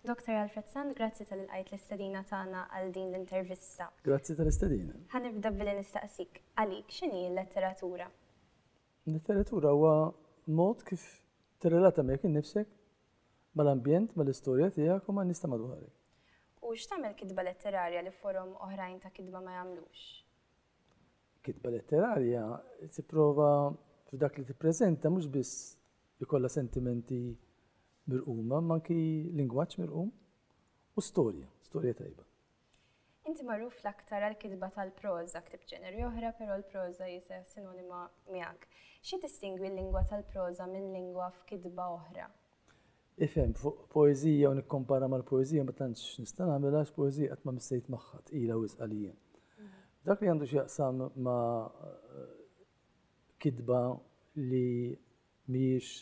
Dr. Alfred Sant, grazzi tal qajt l-istedina tagħna għal din l-intervista. Grazzi tal-istedina. Ħanibda billi nistaqsik, għalik x'inhi l-letteratura? Letteratura huwa mod kif tirrelata miegħek innifsek mal-ambjent, mal-istorja tiegħek u ma' nista madwarek. U x'tagħmel kitba letterarja li forom oħrajn ta' kitba ma jagħmlux? Kitba letterarja tipprova f'dak li tippreżenta mhux biss ikollha sentimenti mirquma, ma anki lingwaġġ mirqum u storja, storja tajba. Inti magħruf l-aktar għall-kitba tal-proża, ktibt ġeneri oħra, però l-proża hi sinonima miegħek. Xi distingwi l-lingwa tal-proża minn lingwa f'kitba oħra? Ifhem, fuq poeżija u nikkompara mal-poeżija ma tantx nista' nagħmel għax poeżija qatt ma missejt magħha, tqila wisq għalija. F'dak li għandu x'jaqsam ma' kitba li mhijiex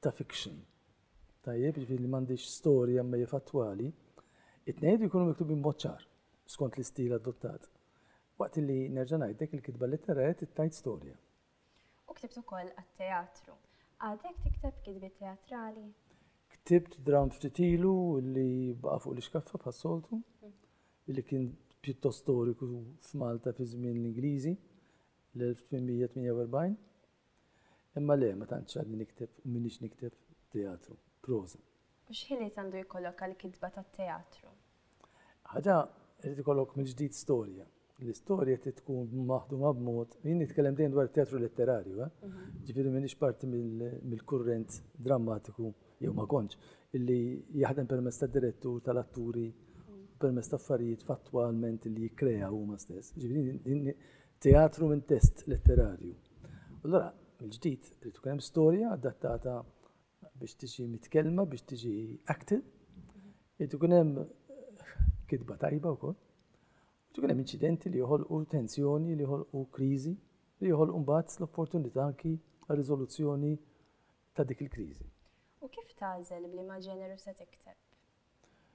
ta' fiction, tajjeb, jiġifieri li m'għandhiex storja imma hija fattwali, it-tnejn iridu jkunu miktubin b'mod ċar skont l-istil adottat. Waqt li nerġa' ngħidlek il-kitba letterarja trid tgħid storja. U ktibt ukoll għat-teatru. Għadek tikteb kitbiet teatrali? Ktibt drawn ftit ilu li baqa' fuq l-ixkaffa bħas-soltu, li kien pjuttost storiku f'Malta fi żmien l-Ingliżi, l-1848. Imma le, ma tantx għadni nikteb u m'iniex nikteb teatru, proża. U x'ħiliet għandu jkollok għall-kitba tat-teatru? Ħaġa irid ikollok mill-ġdid storja. L-istorja trid tkun maħduma b'mod, jien nitkellem dejjem dwar teatru letterarju, eh? mhm. ġifieri m'iniex parti mill-kurrent drammatiku jew ma kontx, illi jaħdem permezz ta' direttur tal-atturi permezz ta' affarijiet fattwalment li jikkrea huma stess. Ġifieri teatru minn test letterarju. Allora, il-ġdid, trid tkun hemm storja adattata biex tiġi mitkellma, biex tiġi acted, irid ikun hemm kitba tajba wkoll. Irid ikun hemm inċidenti li joħolqu tensjoni, li joħolqu kriżi, li joħolqu mbagħad l-opportunità anki riżoluzzjoni ta' dik il-kriżi. U kif tagħżel bli ma' ġeneru se tikteb?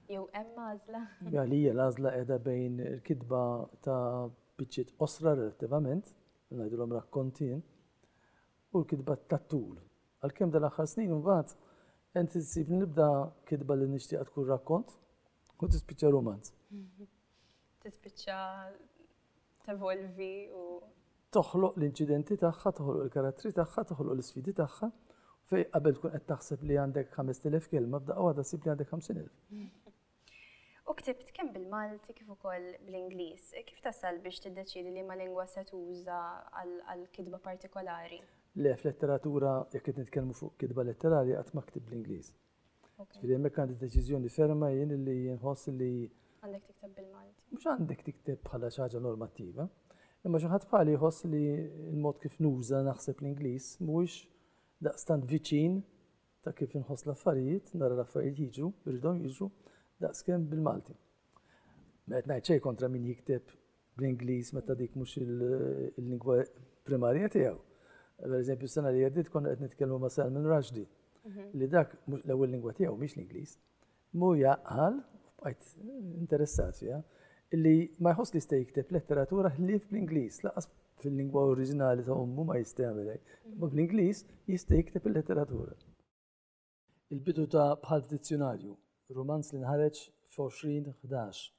Jew hemm għażla? Għalija l-għażla qiegħda bejn il-kitba ta' biċċiet osra relattivament, ngħidulhom rakkontin, u l-kitba tat-tul. Għalkemm dal-aħħar snin imbagħad għedt issib li nibda kitba li nixtieqha tkun rakkont u tispiċċa rumanz. Tispiċċa tevolvi u toħloq l-inċidenti tagħha, toħloq il-karattri tagħha, toħloq l-isfidi tagħha, fej qabel tkun qed taħseb li għandek 5000 kelma, b'daqqa waħda sib li għandek 50,000. U ktibt kemm bil-Malti kif ukoll bl-Ingliż. Kif tasal biex tiddeċiedi liema lingwa se tuża għal kitba partikolari? Le, f'letteratura jekk qed nitkellmu fuq kitba letterarja qatt ma ktibt bl-Ingliż. Ġifieri hemmhekk għandi deċiżjoni ferma jien li nħoss li Għandek tikteb bil-Malti. Mhux għandek tikteb bħala xi ħaġa normattiva. Imma xi ħadd bħali jħoss li l-mod kif nuża naħseb l-Ingliż mhuwiex daqstant viċin ta' kif inħoss l-affarijiet, nara l-affarijiet jiġu, irridhom jiġu, daqskemm bil-Malti. Ma qed ngħid xejn kontra min jikteb bl-Ingliż meta dik mhux il-lingwa primarja tiegħu. Per eżempju, s-sena li għeddiet konna qed nitkellmu ma' Salman Rushdie, mhm. li dak l-ewwel lingwa tiegħu mhix l-Ingliż, Muja qal, u bqajt interessat fiha, illi ma jħoss li jista' jikteb letteratura ħlief bl-Ingliż, lanqas fil-lingwa oriġinali ta' ommu ma jista' jagħmel hekk, imma bl-Ingliż jista' jikteb il-letteratura. Il-bidu ta' Bħal f'Dizzjunarju, rumanz li nħareġ f'2011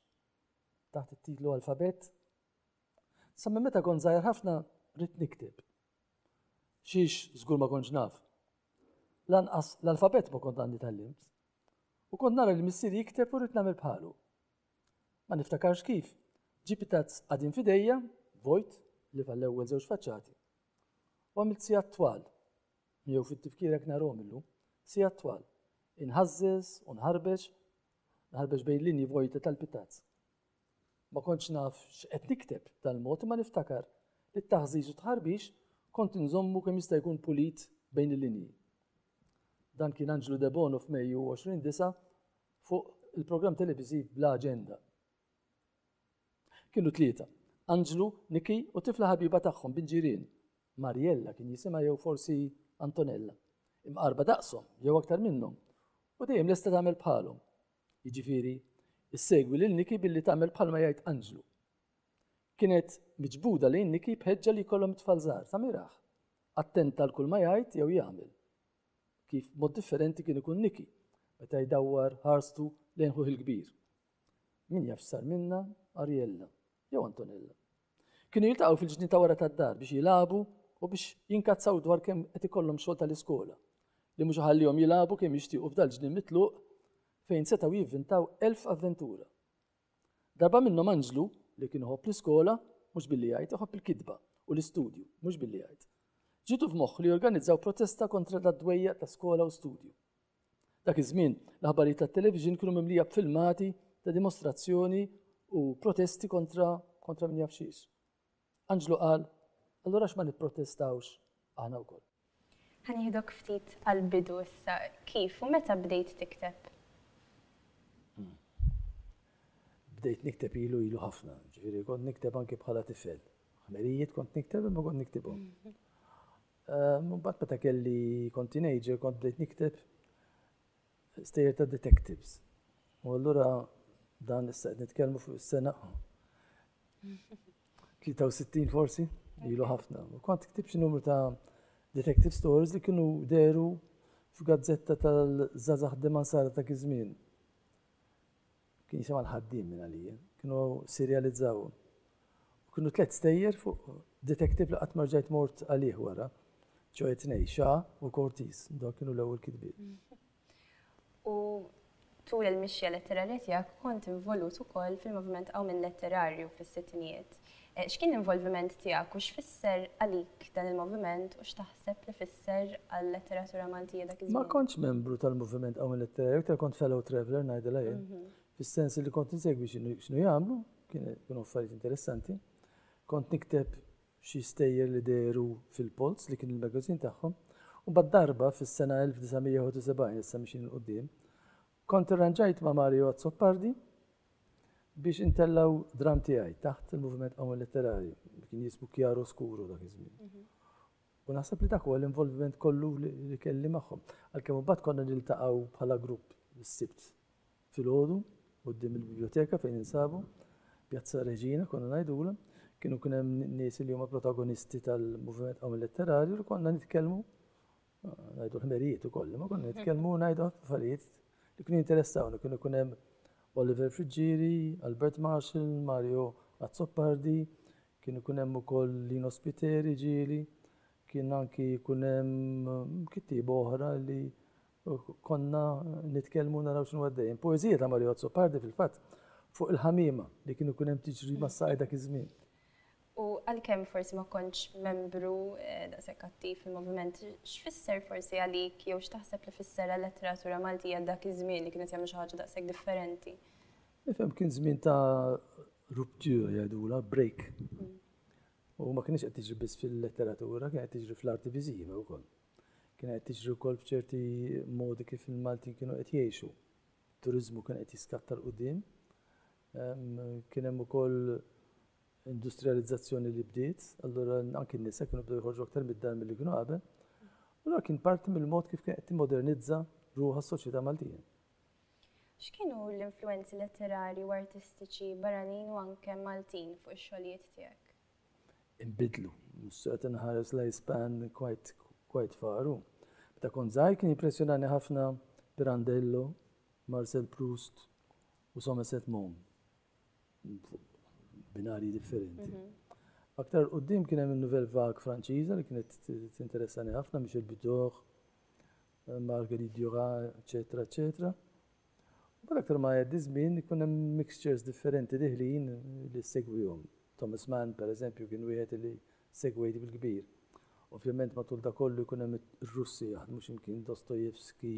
taħt it-titlu Alfabett, sa minn meta kont żgħir ħafna ridt nikteb. Xiex żgur ma kontx naf. Lanqas l-alfabett ma kont għandi tallimt. u kont nara lil missieri jikteb u rrid nagħmel bħalu. Ma niftakarx kif, ġibt tazz qadim f'idejja, vojt, li tal-ewwel żewġ faċċati. U għamilt sigħat twal, miegħu fit-tifkira knarhom illum, sigħat twal, inħażżeż u nħarbeġ, nħarbeġ bejn linji vojta tal-pitazz. Ma kontx naf x'qed nikteb b'dal-mod imma niftakar li t-taħżiż u t-tħarbix kont inżommu kemm jista' jkun pulit bejn il-linji. Dan kien Anġlu Debono f'Mejju 2009 fuq il-programm televiżiv Bla Aġenda. Kienu tlieta, Anġlu, Niki u tifla ħabiba tagħhom bint ġirien, Mariella kien jisimha jew forsi Antonella, imqarrba daqshom jew aktar minnhom u dejjem lesta tagħmel bħalhom. Jiġifieri, issegwi lil Niki billi tagħmel bħalma jgħid Anġlu. Kienet miġbuda lejn Niki b'ħeġġa li jkollhom it-tfal żgħar, sa miraħ. Attenta għal kull ma jgħid jew jagħmel. Kif mod differenti kien ikun Niki meta jdawwar ħarstu lejn ħuh il-kbir. Min jaf x'sar minna Ariella jew Antonella. Kienu jiltaqgħu fil-ġnien ta' wara tad-dar biex jilagħbu u biex jinkazzaw dwar kemm qed ikollhom xogħol tal-iskola, li mhux iħallihom jilagħbu kemm jixtiequ f'dal-ġnien mitluq fejn setgħu jivvintaw elf avventura. Darba minnhom Anġlu, li kien iħobb l-iskola, mhux billi jgħid, iħobb il-kitba u l-istudju, mhux billi jgħid. Ġietu f'moħħu li jorganizzaw protesta kontra dad-dwejjaq ta' skola u studju. Dak iż-żmien, l-aħbarijiet tat-television kienu mimlija b'filmati ta' dimostrazzjoni u protesti kontra kontra min jaf xiex. Anġlu qal, allura x'ma nipprotestawx aħna wkoll. Ħa nieħdok ftit għall-bidu issa, kif u meta bdejt tikteb? Hmm. Bdejt nikteb ilu ilu ħafna, ġifieri kont nikteb anke bħala tifel. Ħmerijiet kont nikteb imma kont niktibhom. Imbagħad meta kelli kont teenager kont bdejt nikteb stejjer ta' detectives. U allura dan issa qed nitkellmu fuq is-sena 63 forsi, ilu ħafna. U kont ktib xi numru ta' detective stories li kienu deru f'gazzetta tal-żazax deman sara ta' kizmin. Kien jisimha l-Ħaddiem minn għalija. Kienu sirjalizzaw u kienu tliet stejjer fuq detektiv li qatt ma rġajt mort għalih wara. ċoħe tnej, Xa u Kortiz, dawk kienu l-ewwel kitbiet. U tul il-mixja letterarja tiegħek kont involut ukoll fil-moviment Qawmien Letterarju fis-sittinijiet. X'kien l-involviment tiegħek u x'fisser għalik dan il-moviment u x'taħseb li fisser għal-letteratura Maltija dak iż-żmien? Ma kontx membru tal-moviment Qawmien Letterarju, iktar kont fellow traveller ngħidilha jien, fis-sens li kont insegwi x'inhu jagħmlu, kienu affarijiet interessanti. Kont nikteb xi stejjer li dehru fil-Polz li kien il-magazin tagħhom. U mbagħad darba fis-sena 1971, issa mixin 'il quddiem, Kont irranġajt ma' Mario Azzopardi biex intellgħu dramm tiegħi taħt il-moviment qawwin letterari, li kien jismu Chiaro Scuro dak iż-żmien. U naħseb li dak huwa l-involviment kollu li kelli magħhom. Għalkemm imbagħad konna niltaqgħu bħala grupp is-Sibt filgħodu quddiem il-biblioteka fejn insabu, Pjazza Reġina konna ngħidulha, kienu kien hemm nies li huma protagonisti tal-moviment qawwin letterari u konna nitkellmu Ngħidu ħmerijiet ukoll, ma konna nitkellmu ngħidu affarijiet li kienu jinteressawni, kienu jkun hemm Oliver Friggieri, Albert Marshall, Mario Azzopardi, kien ikun hemm ukoll Lino Spiteri ġieli, kien anki jkun hemm kittieba oħra li konna nitkellmu naraw x'inhu għaddejjem. Poeżija ta' Mario Azzopardi fil-fatt fuq il-ħamiema li kien ikun hemm tiġri mas-sajda dak iż-żmien. U għalkemm forsi ma kontx membru daqshekk attiv fil-moviment, x'fisser forsi għalik jew x'taħseb li fisser għal-letteratura Maltija dak iż-żmien li kienet jagħmlu xi ħaġa daqshekk differenti? Nifhem kien żmien ta' rupture jgħidulha, break. U ma kienx qed tiġri biss fil-letteratura, kien qed tiġri fl-arti viżiva wkoll. Kien qed tiġri wkoll f'ċerti modi kif il-Maltin kienu qed jgħixu. Turiżmu kien qed jiskatta l-qudiem Kien hemm ukoll industrijalizzazzjoni li bdiet, allura anki n-nisa kienu bdew joħorġu aktar mid-dar milli kienu qabel. Allura kien parti mill-mod kif kienet timmodernizza ruħha s-soċjetà Maltija. X'kienu l-influenzi letterari u artistiċi barranin u anke Maltin fuq ix-xogħlijiet tiegħek? Inbidlu, mhux qed inħares l-ispan quite faru. Meta kont żgħir kien jimpressjonani ħafna Pirandello, Marcel Proust, u Somerset Maugham, fuq binarji differenti. Aktar qoddim kien hemm il-Nouvelle Vague Franċiża li kienet tinteressani ħafna biex il-Bidor, Marguerite Dura, eċetera, eċetera. Bad aktar ma jgħaddi żmien ikun hemm mixtures differenti diħlin li segwihom. Thomas Mann, per eżempju, kien wieħed li segwejt bil-kbir. Ovvjament matul da kollu jkun hemm ir-Russi jaħdmu x'imkien Dostoevsky,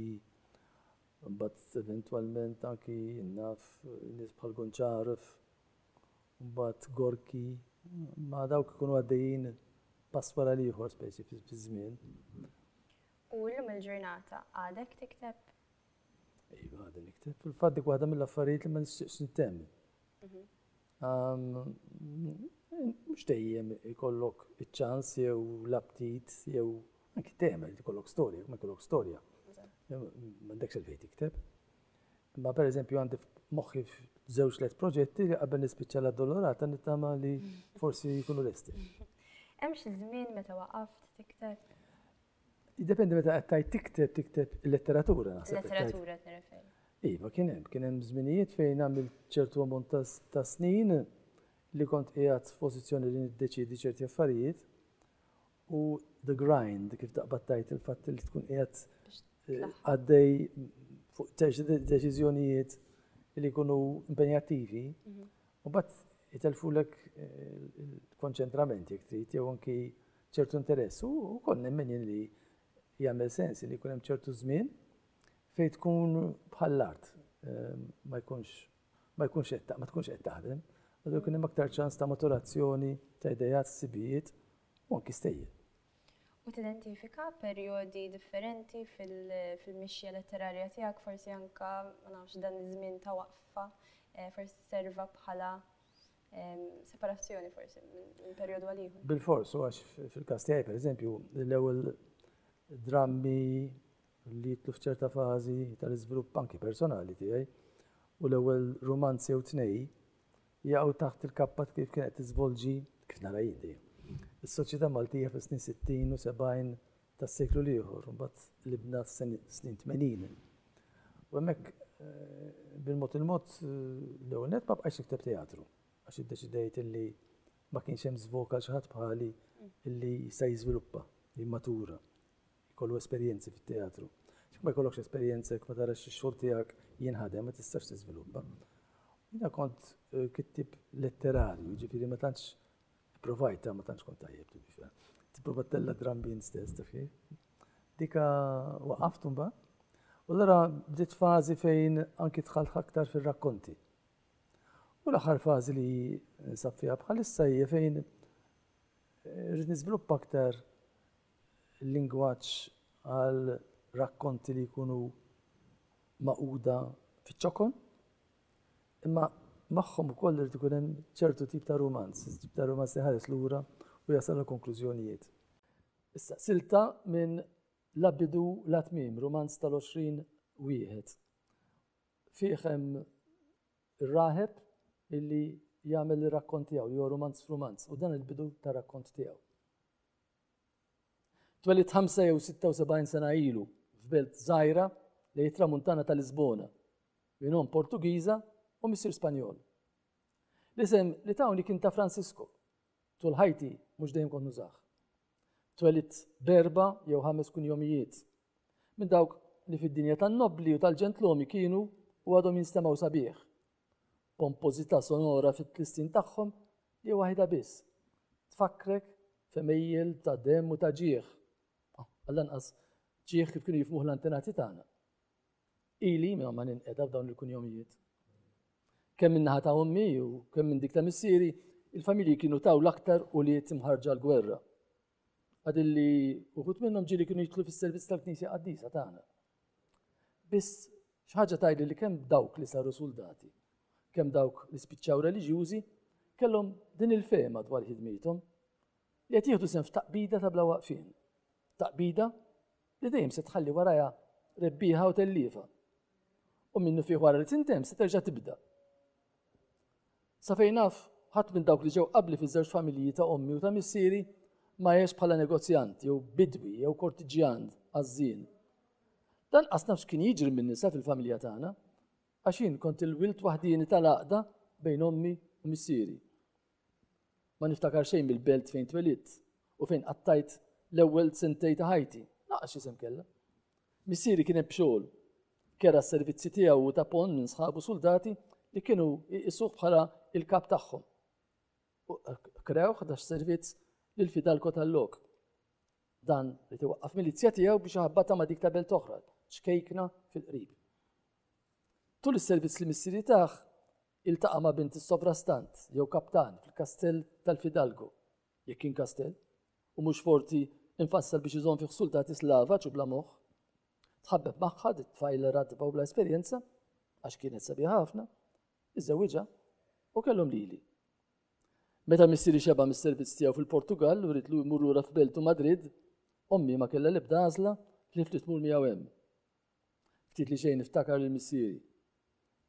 Imbagħad eventwalment anki jien naf nies bħal Gonċaref, imbagħad Gorki, ma dawk ikunu għaddejjin pass wara l-ieħor specie fiż-żmien. U llum il-ġurnata għadek tikteb? Iva, għadni nikteb. Fil-fatt dik waħda mill-affarijiet li ma nixtieqx nittemm. Mhux dejjem ikollok iċ-ċans jew l-aptit jew anki tagħmel ikollok storja, ma jkollok storja. M'għandekx il-fejn tikteb. Ma pereżempju għandi moħħi żewġ tliet proġetti li qabel nispiċċa l-addolorata nittama li forsi jkunu lesti. Hemm xi żmien meta waqaft tikteb? Jiddependi meta qed tgħid tikteb, tikteb il-letteratura naħseb. Letteratura qed nirreferi. Iva, kien hemm, kien hemm żminijiet fejn għamil ċertu ammont ta' snin li kont qiegħed f'pożizzjoni li niddeċidi ċerti affarijiet u the grind kif taqbad tajt il-fatt li tkun qiegħed eh, għaddej fuq deċiżjonijiet li jkunu impenjattivi mhm. u bat jitelfulek eh, il-konċentrament jek trid jew anki ċertu interess u wkoll nemmen jien li jagħmel sens li jkun hemm ċertu żmien fejn tkun bħall-art ma jkunx ma jkunx qed ma tkunx qed taħdem, għadu jkun hemm aktar ċans ta' maturazzjoni ta' idejat, sibijiet u anki stejjer. U tidentifika perjodi differenti fil-mixja letterarja tiegħek, forsi anka ma nafx dan iż-żmien ta' waqfa, forsi serva bħala Separazzjoni forsi minn perjodu għal ieħor. Bil-fors, u għax fil-każ tiegħi pereżempju, l-ewwel drammi li jitlu f'ċerta fażi tal-iżvilupp anki personali tiegħi u l-ewwel rumanzi jew tnej jaqgħu taħt il-kappa kif kienet tiżvolġi kif nara jidi. Is-soċjetà Maltija fis-snin 60 u 70 ta' seklu l-ieħor, mbagħad l-ibna f'snin tmenin. U hemmhekk bil-mod il-mod l-ewwel net ma bqajx ikteb teatru għax iddeċidejt illi ma kienx hemm żvok għal xi ħadd bħali illi jista' jiżviluppa, jimmatura, jkollu esperjenzi fit-teatru. X'k ma jkollokx esperjenza jekk ma tarax ix-xogħol tiegħek jinħadem ma tistax tiżviluppa. Jiena kont eh, kittib letterarju, ġifieri ma tantx Provajta, ma tantx kont tajjeb to be fair. Tipprova tella drum bean stess, taf kif? Dika waqaft mbagħad. U l-ara bdiet fażi fejn anki dħalt aktar fir-rakkonti. U l-aħħar fażi li nsab fiha bħalissa hija fejn eh, rrid niżviluppa aktar lingwaġġ għal rakkonti li jkunu maquda fiċ-ċokon Imma magħhom ukoll irid ikun hemm ċertu tip ta' rumanz, tip ta' rumanz li ħares lura u jasal għal konklużjonijiet. Issa, silta minn la bidu la tmiem, rumanz tal-20 wieħed. Fih hemm ir-raħeb illi jagħmel ir-rakkont tiegħu, li huwa rumanz f'rumanz, u dan il-bidu tar-rakkont tiegħu. Twelidt 76 sena ilu f'belt żgħira lejn it-Tramuntana ta' Lisbona minn omm Portugiża u missier Spanjol. L-isem li tawni kien ta' Francisco. Tul ħajti mhux dejjem kont nużah. Twelidt berba jew ħames kunjomijiet. Minn dawk li fid-dinja tan-nobbli u tal-ġentlumi kienu u għadhom jinstemgħu sabiħ, b'pompożità sonora fit-tlissin tagħhom li waħidha biss tfakkrek f'għemejjel ta' demm u ta' ġieħ, għall-anqas ġieħ kif kienu jifhmuh l-antenati tagħna. Ili minn ma ninqeda f'dawn il-kunjomijiet. Kemm min-naħa ta' ommi u kemm minn dik ta' missieri, il-familji kienu taw l-aktar ulied imħarġa l-gwerra. Għadilli uħut minnhom ġieli kienu jitlu fis-servizz tal-Knisja Qaddisa tagħna, Biss xi ħaġa tgħidli li kemm dawk li saru suldati, kemm dawk li spiċċaw reliġjużi, kellhom din il-fehma dwar ħidmithom li qed jieħdu sehem f'taqbida ta' bla waqfien. Taqbida li dejjem se tħalli warajha rebbieħa u telliefa. U minnu fih wara li tintemm se terġa' tibda. Sa fejn naf, ħadd minn dawk li ġew qabli fiż-żewġ familji ta' ommi u ta' missieri ma għex bħala negozjant jew bidwi jew kortiġġjan għaż-żien. Lanqas naf x'kien jiġri min-nisa fil-familja tagħna, għax jien kont il-wild waħdieni tal-għaqda bejn ommi u missieri. Ma niftakar xejn mill-belt fejn twelidt u fejn qattajt l-ewwel sentej ta' ħajti, laqas x'isem kellha. Missieri kien hemm b'xogħol. Kera s-servizzi tiegħu u tapon minn sħabu suldati li kienu jqisuh bħala il-kap tagħhom. Krew ħdax servizz lil fidalko tal-lok. Dan li tiwaqqaf milizja tiegħu biex ħabbata ma' dik ta' belt oħra, ċkejkna fil-qrib. Tul is-servizz li missieri taħ, Iltaqa' ma' bint is-sovrastant jew kaptan fil-kastell tal-fidalgo, jekk kien kastell, u mhux forti imfassal biex iżomm fih suldati slavaġ u bla moħħ. Tħabbeb magħha, di t-tfajla ratba u bla esperjenza, għax kienet sabiħa ħafna, iżżewwiġha u kellhom lili. Meta missieri xeba' mis-servizz tiegħu fil-Portugall u ridlu jmur lura f'beltu Madrid, ommi ma kellha l-ebda għażla ħlief li tmur miegħu hemm. Ftit li xejn niftakar lil missieri.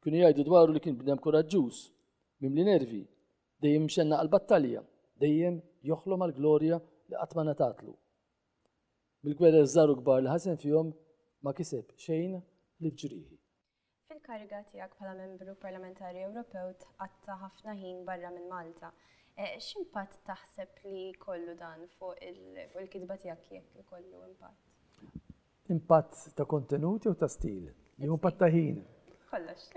Kienu jgħidu dwaru li kien bnem kuraġġuż, mimli nervi, dejjem imxenna għal battalja, dejjem joħlom għal glorja li qatt ma ngħatatlu. Bil-gwerer żgħar u kbar li ħasen fihom ma kiseb xejn li fġrieħi. Fil-kariga tiegħek bħala Membru Parlamentari Ewropew tqatta' ħafna ħin barra minn Malta. E, x'impatt taħseb li kollu dan fuq il-kitba tiegħek jekk ikollu impatt? Impatt ta' kontenut jew ta' stil? Jew impatt ta' ħin? Kollox.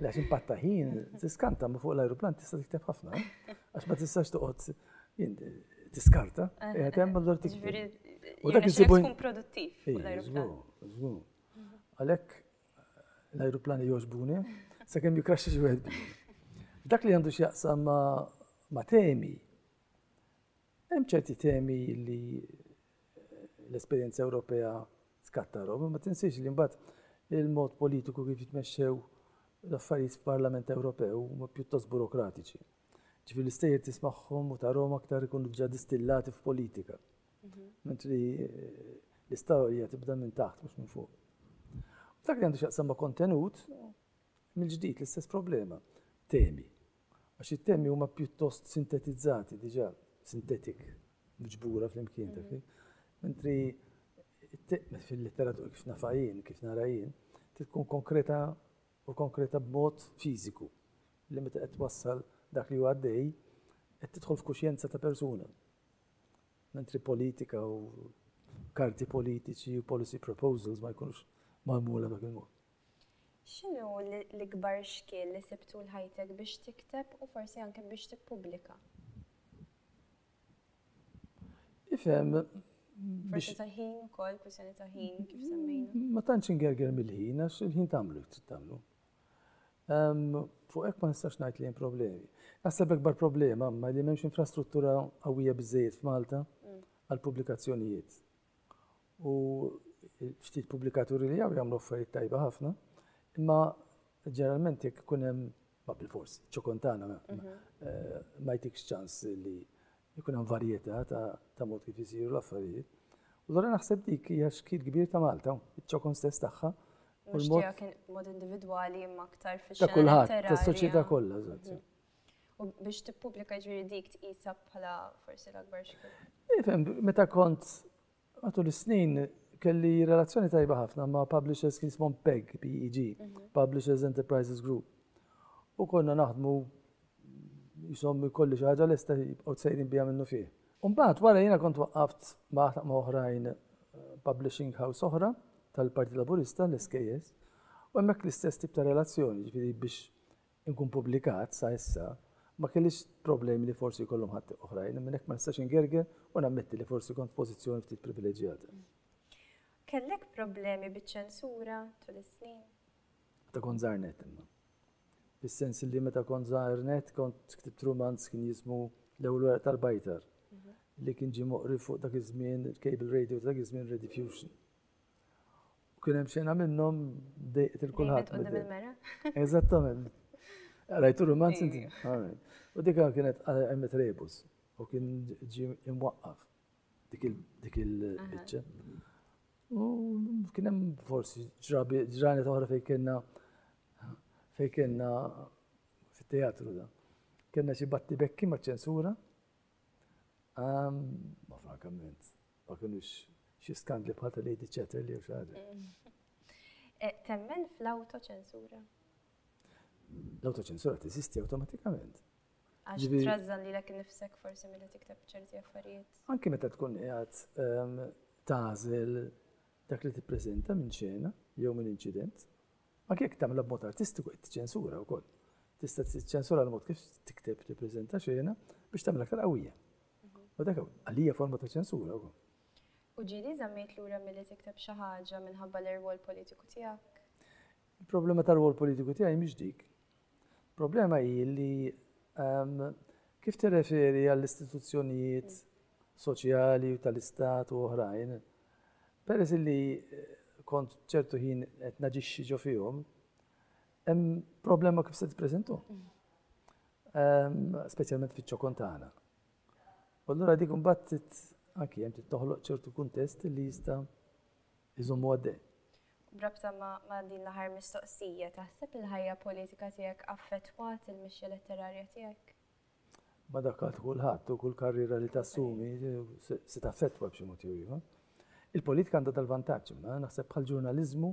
Lex impatt ta' ħin, tiskanta ma fuq l-ajruplan tista' tikteb ħafna, eh? għax ma tistax toqgħod tiskarta, eh, qiegħed eh, hemm allura tikteb. U dak isibu tkun produttiv fuq l-ajruplan. Mhm. Għalhekk l-ajruplani jogħġbuni, sakemm jikraxxi xi wieħed. Dak li għandu x'jaqsam ma' temi, Hemm ċerti temi li l-esperjenza Ewropea tkattarhom, imma tinsiex li mbagħad il-mod politiku kif jitmexxew l-affarijiet f'Parlament Ewropew huma pjuttost burokratiċi. Ġifi l-istejjer tismagħhom u tarhom aktar ikunu ġa distillati f'politika. Mhm. Mentri eh, l-istorja tibda minn taħt mhux minn fuq. Dak li għandu xaqsam ma' kontenut, mill-ġdid l-istess problema. Temi. Għax it-temi huma pjuttost sintetizzati diġà, synthetic, miġbura flimkien, taf kif? Mentri fil-letteratura kif nafha jien, kif nara jien, trid tkun konkreta u konkreta b'mod fiżiku li meta qed twassal dak li hu għaddej qed tidħol f'kuxjenza ta' persuna. Mentri politika u karti politiċi u policy proposals ma jkunux magħmula dak il-mod. X'inhu l-ikbar xkiel li sibt tul ħajtek biex tikteb u forsi anke biex tippubblika? Ifhem biex. Forsi ta' ħin ukoll, kwistjoni ta' ħin kif semmejna. Ma tantx ingerger mill-ħin għax il-ħin tagħmlu jrid tagħmlu. Fuq hekk ma nistax ngħid li hemm problemi. Naħseb l-ikbar problema ma li m'hemmx infrastruttura qawwija biżejjed f'Malta mm. għall-pubblikazzjonijiet. u ftit pubblikaturi li hawn jagħmlu affarijiet tajba ħafna, imma ġeneralment jekk ikun hemm ma bil-fors, ċokontana mhm. eh, ma jtikx ċans li jkun hemm varjetà ta' mod kif isiru l-affarijiet. U l naħseb dik hija xkil kbir ta' Malta, iċ-ċokon stess tagħha. Mhux tiegħek mod individwali imma aktar fix Ta' kulħadd, tas-soċjetà kollha, mhm. U biex tippubblika jiġifieri dik tqisha bħala forsi l-akbar xkiel? Ifhem, meta kont matul is-snin kelli relazzjoni tajba ħafna ma' publishers kien smon PEG, PEG, mhm. Publishers Enterprises Group. U konna naħdmu jisom kolli xi ħaġa lesta jibqgħu tsejrin biha minnu fih. Umbagħad wara jiena kont waqqaft ma' ma' oħrajn eh, publishing house oħra tal-Parti Laburista, l-SKS, u hemmhekk l-istess tip ta' relazzjoni, ġifieri biex inkun pubblikat sa issa, ma kellix problemi li forsi jkollhom ħadd oħrajn, minn hekk ma nistax ingerger u nammetti li forsi kont f'pożizzjoni ftit privileġġjata. Kellek problemi biċ-ċensura tul is-snin? Meta kont żgħar net imma. Fis-sens li meta kont żgħar net kont ktibt rumanz kien jismu L-ewwel weraq tal-bajtar mhm. li kien ġie moqri fuq dak iż-żmien il-cable radio ta' dak iż-żmien Rediffusion. U kien hemm xena minnhom dejqet il kulħadd. Qudiem il-mera. Eżattament. Rajtu romanz inti? U dika kienet għemmet rebus u kien ġi imwaqqaf dik il-bicċa. U kien hemm forsi ġrabi ġrani toħra fejn kienna fejn kienna fit-teatru da. Kienna xi batti bekki ma' ċensura. Ma frankament, Ma kinux xi skandli bħal ta' Lady Chatterley jew xi ħaġa. Temmen fl-awtoċensura? L-awtoċensura teżisti awtomatikament. Għax Ġifieri- trażżan li lek nifsek forsi milli tikteb ċerti affarijiet. Anki meta tkun qiegħed ehm, tagħżel dak li tippreżenta minn xena jew minn inċident, anke jekk tagħmilha b'mod artistiku qed tiċċensura wkoll. Tista' tiċċensura l-mod kif tikteb tippreżenta xena biex tagħmel aktar qawwija. U dak għalija forma ta' ċensura wkoll. U ġieli żammejt lura milli tikteb xi ħaġa minħabba l-irwol politiku tiegħek? Il-problema tar-rwol politiku tiegħi mhix dik. Il-problema hi li ehm, kif tirreferi għall-istituzzjonijiet soċjali u tal-istat u oħrajn, peress li eh, kont ċertu ħin qed naġixxi ġo fihom, hemm problema kif se tippreżentu. Speċjalment fiċ-ċokon tagħna. U allura dik imbagħad anki hemm toħloq ċertu kuntest li jista' jżommu għaddej. Brabta ma' din l-aħħar mistoqsija, taħseb il-ħajja politika tiegħek affettwat il-mixja letterarja tiegħek? Ma dak għal kulħadd u kull karriera li tassumi se taffettwa b'xi mod ieħor. Il-politika għandha tal-vantaġġ imma naħseb bħal ġurnaliżmu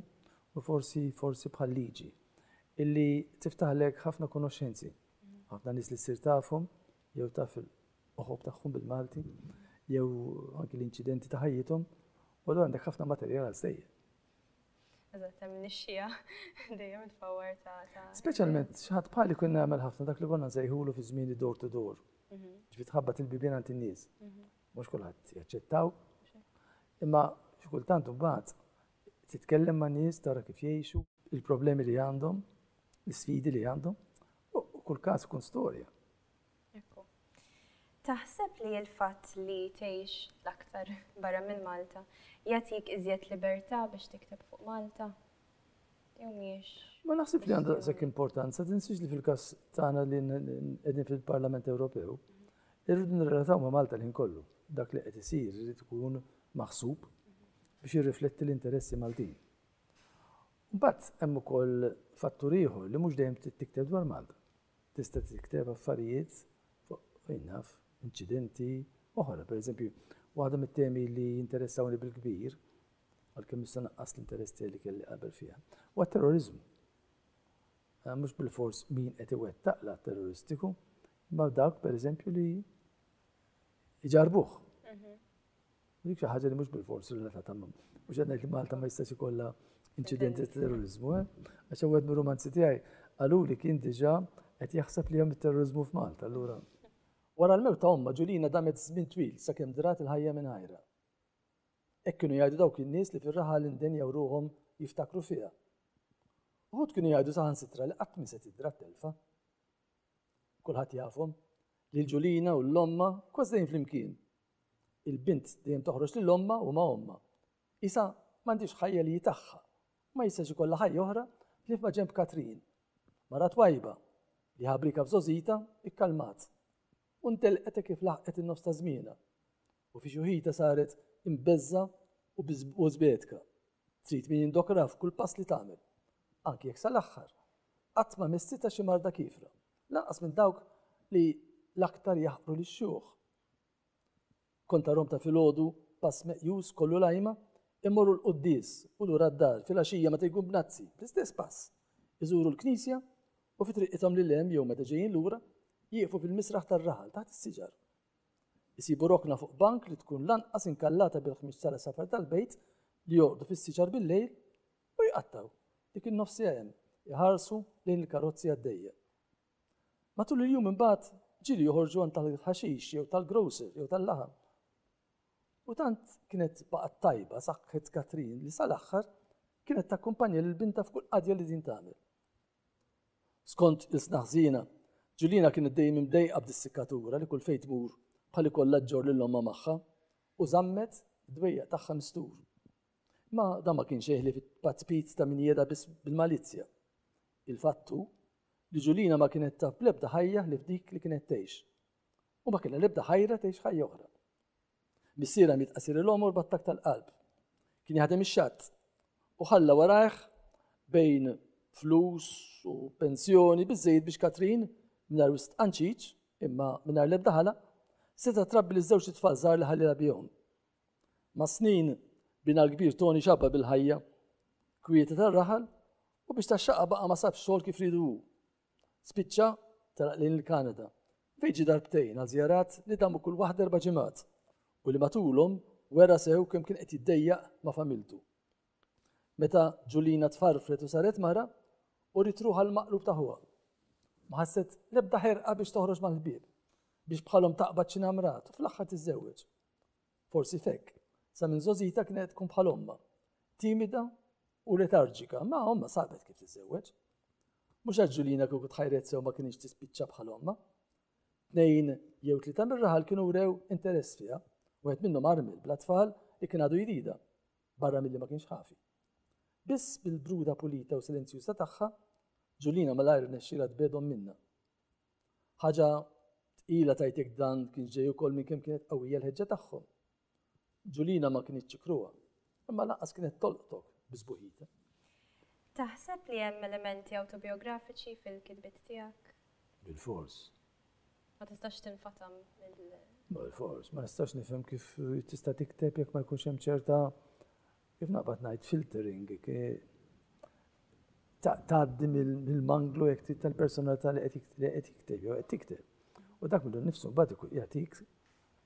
u forsi forsi bħal liġi. illi tiftaħlek ħafna konoxxenzi, ħafna nies li ssir tafhom jew taf il-qoħob tagħhom bil-Malti, jew anki l-inċidenti ta' ħajjithom, u l għandek ħafna materjal għal sejjer. Eżatt, hemm nixxija dejjem tfawwar ta' ta'. Speċjalment x'ħadd bħali kien nagħmel ħafna dak li konna nsejħulu fi żmien door to door. Mhm. Ġifi tħabbat il-bibien għand in-nies. Mhm. Mhux kulħadd jaċċettaw. Imma xi kultant imbagħad titkellem ma' nies tara kif jgħixu. Il-problemi li għandhom, l-isfidi li għandhom, u kull każ ikun storja. Ekku. Taħseb li l-fatt li tgħix l-aktar barra minn Malta jagħtik iżjed libertà biex tikteb fuq Malta? Jew mhijiex? Ma naħseb li għandha sekk importanza, tinsiex li fil-każ tagħna li qegħdin fil-Parlament Ewropew, irridu nirrelataw ma' Malta li nkollu. Dak li qed isir irid ikun maħsub biex jirrifletti l-interessi Maltin. Imbagħad hemm ukoll fattur ieħor li mhux dejjem trid tikteb dwar Malta. Tista' tikteb affarijiet fuq fejn naf, inċidenti oħra. Pereżempju, waħda mit-temi li jinteressawni bil-kbir, għalkemm issa naqqas l-interess tiegħi li kelli qabel fiha, huwa terrorizmu. Eh, mhux bil-fors min qed iwettaq l terroristiku, imma dawk pereżempju li iġarbuh. Mhm. Dik xi ħaġa li mhux bil-fors relatata ma' mhux qed ngħid li Malta ma jistax ikollha inċidenti ta' terrorizmu, eh? Għax wieħed mir-romanzi tiegħi qaluli kien diġà qed jaħseb li hemm it-terrorizmu f'Malta, allura. Wara l-mew ta' omma Ġulina damet żmien twil sakemm drat il-ħajja minn ħajra. Hekk kienu jgħidu dawk in-nies li fir-raħal indenjaw ruħhom jiftakru fiha. Uħud kienu jgħidu saħansitra li qatt mi se tidra telfa. Kulħadd jafhom li l-Ġulina u l-omma kważejn flimkien Il-bint dejjem toħroġ lil ommha u ma' ommha. Qisha m'għandhiex ħajja li hi tagħha. Ma jistax ikollha ħajja oħra ħlief ma' ġenb Katrin. Mara twajba, li ħabrieka f'żgħożitha, ikkalmat. U ntelqet hekk kif laħqet in-nofs ta' żmienha. U fi xuħitha saret imbeżża' u żbedka. Trid min jindokrha f'kull pass li tagħmel. Anki jekk sal-aħħar qatt ma messitha xi marda kiefra. Lanqas minn dawk li l-aktar jaħqru lix-xjuħ. Kont arhom ta' filgħodu pass meqjus kollu l-għajma, imorru l-quddies u lura d-dar, filgħaxija meta jkun b'nazzi, bl-istess pass, iżuru l-knisja u fi triqithom lil hemm jew meta ġejjin lura, jieqfu fil-misraħ tar-raħal taħt is-siġar. Isibu rokna fuq bank li tkun l-anqas inkallata bil-ħmieġ tal-għasafar tal-bejt li jorqdu fis-siġar bil-lejl u jqattgħu, dik in-nofsija hemm, iħarsu lejn il-karozzi għaddejja. Matul il-jum imbagħad ġieli joħorġu għand tal-ħaxix jew tal-grocer jew tal-laħam. U tant kienet baqgħet tajba saħħet Katrin li sal-aħħar kienet takkumpanja lil bintha f'kull qadja li din tagħmel. Skont il-snaħżina, Ġulina kienet dejjem imdejqa b'dis-sikkatura li kull fejn tmur bħal ikollha ġġor lil omma magħha u żammet id-dwejjaq tagħha mistur. Ma dan ma kienx xejn ħlief it-tpatzpiz ta' min jeda biss bil-malizzja. Il-fatt hu li Ġulina ma kienet taf bl-ebda ħajja ħlief dik li kienet tgħix. U ma kellha l-ebda ħajra tgħix ħajja oħra. Missierha miet qasir il-omor battak tal-qalb. Kien jaħdem ix-xatt u ħalla warajh bejn flus u pensjoni biżejjed biex Katrin mingħajr wist qanċiċ imma mingħajr l-ebda ħala seta' trabbi li żewġ it-tfal żgħar li ħallilha bihom. Mas-snin, binha l-kbir Toni x'għabba bil-ħajja kwieta tar-raħal u biex tax-xaqqa baqa' ma sabx xogħol kif riedu hu. Spiċċa telaq lejn il-Kanada fejn ġie darbtejn għal żjarat li damu kull waħda erba' ġimgħat u li matulhom wera sew kemm kien qed jiddejjaq ma' familtu. Meta Ġulina tfarfret u saret mara, u ritruħa l-maqlub ta' ħuha. Ma ħasset l-ebda ħerqa biex toħroġ mal-ħbieb, biex bħalhom taqbad xi namrat u fl-aħħar tiżżewweġ. Forsi f'hekk, sa minn żgħożitha kienet tkun bħal ommha, timida u letarġika, ma ommha sabet kif tiżżewweġ. Mhux għax Ġuljina kieku tħajret sew ma kienx tispiċċa bħal ommha. Tnejn jew tlieta mir-raħal kienu wrew interess fiha, wieħed minnhom armil bla tfal li kien għadu jrida, barra milli ma kienx ħafi. Biss bil-bruda pulita u silenzjuża tagħha, Ġuljina malajr nexxila tbedhom minna. Ħaġa tqila tajtek dan kien ġej ukoll minn kemm kienet qawwija l-ħeġġa tagħhom. Ġulina ma kinitx kruha, imma lanqas kienet tolqtok bi sbuħita. Taħseb li hemm elementi awtobiografiċi fil-kitbiet tiegħek? Bil-fors. Ma tistax tinfatam mill. Bil-fors, ma nistax nifhem kif tista' tikteb jekk ma jkunx hemm ċerta Kif naqbad ngħid filtering, tgħaddi mill-manglu jekk trid tal-personalità li qed jikteb jew qed tikteb. U dak minnu nnifsu mbagħad ikun jagħtik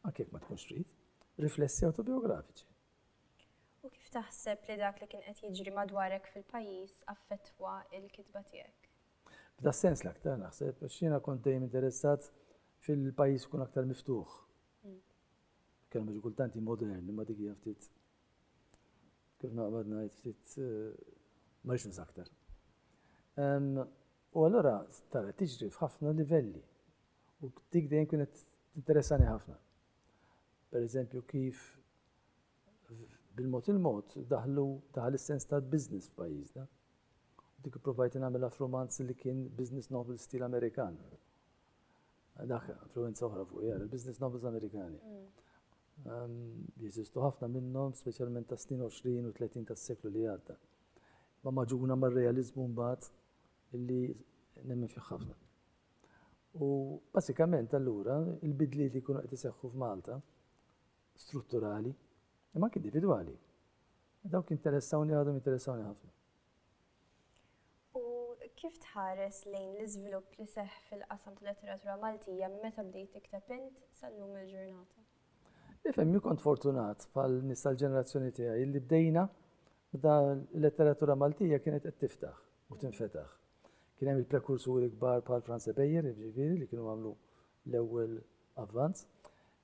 anke jekk ma tkunx trid, riflessi awtobiografiċi. U kif taħseb li dak li kien qed jiġri madwarek fil-pajjiż affettwa l-kitba tiegħek? F'da sens l-aktar naħseb, għax jiena kont dejjem interessat fil-pajjiż kun aktar miftuħ. Mm. Kelmu kultanti moderni ma dik ftit Kif naqbad ngħid ftit ma rridx nżaktar. U allura tara tiġri f'ħafna livelli u dik dejjem kienet tinteressani ħafna. Per eżempju kif bil-mod il-mod daħlu daħal is-sens ta' business f'pajjiżna. Dik provajt nagħmilha f'romanz li kien business novel stil Amerikan. Dak influenza oħra fuq jara, business novels Amerikani. Jeżistu ħafna minnhom, speċjalment tas-snin 20 u 30 tas-seklu li għadda. Ma maġuna mar-realiżmu mbagħad illi nemmen fih ħafna. U basikament allura il-bidliet li jkunu qed iseħħu f'Malta strutturali, imma anke individwali. Dawk interessawni għadhom interessawni ħafna. U kif tħares lejn l-iżvilupp li seħħ fil-qasam tal-letteratura Maltija minn meta bdejt tikteb int sal-lum il-ġurnata? Ifhem, jien kont fortunat bħal nies tal-ġenerazzjoni tiegħi li bdejna meta l-letteratura Maltija kienet qed tiftaħ u tinfetaħ. Kien hemm il-prekursuri kbar bħal Franz Ebejer, jiġifieri li kienu għamlu l-ewwel avvanz.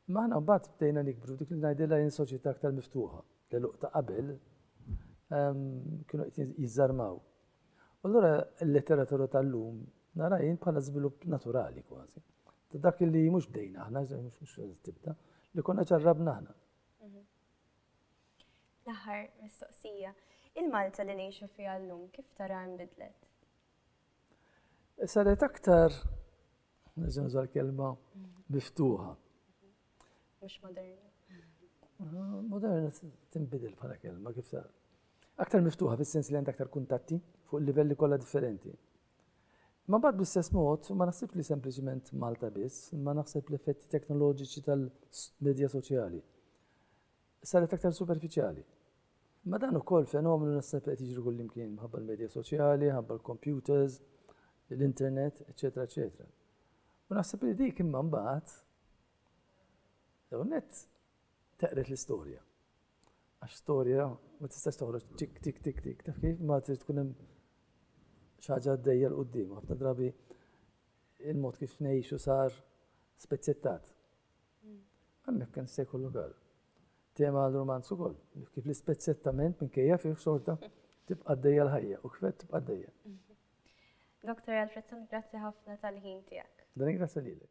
Imma aħna mbagħad bdejna nikbru, dik li ngħidilha jien soċjetà aktar miftuħa, l-għeluq ta' qabel kienu qed jiżżarmaw. U allura l-letteratura tal-lum nara jien bħala żvilupp naturali kważi. Ta' dak li mhux bdejna aħna, mhux tibda, li konna ġarrabna aħna. Mhm. L-aħħar mistoqsija, il-Malta li ngħixu fiha llum kif tara nbidlet? Saret aktar Nizem zal kelma miftuħa. Mux moderna. Ah, moderna timbidil bħala kelma kif sa. Aktar miftuħa fis-sens li għandha aktar kuntatti fuq livelli kollha differenti. Ma bad bl-istess mod, ma naħsib li sempliċement Malta biss, ma naħseb l-effetti teknoloġiċi tal-medja soċjali. saret aktar superfiċjali. Imma dan ukoll fenomenu naħseb qed jiġri kullimkien minħabba l-medja soċjali, minħabba l-computers, l-internet, eċetera, eċetera. U naħseb li dik imma mbagħad jew net teqret l-istorja. Għax storja ma tistax toħroġ tik tik tik tik taf kif ma trid tkun hemm xi ħaġa għaddejja l qudiem ħafna drabi il-mod kif ngħixu sar spezzettat. Hemmhekk hemm se jkollu għal. Tema għal romanz ukoll, kif l-ispezzettament minkejja fih xorta tibqa' dejja l-ħajja u kif tibqa' dejja. Dr. Alfredson, grazzi ħafna tal-ħin tiegħek. Dan grazzi lilek.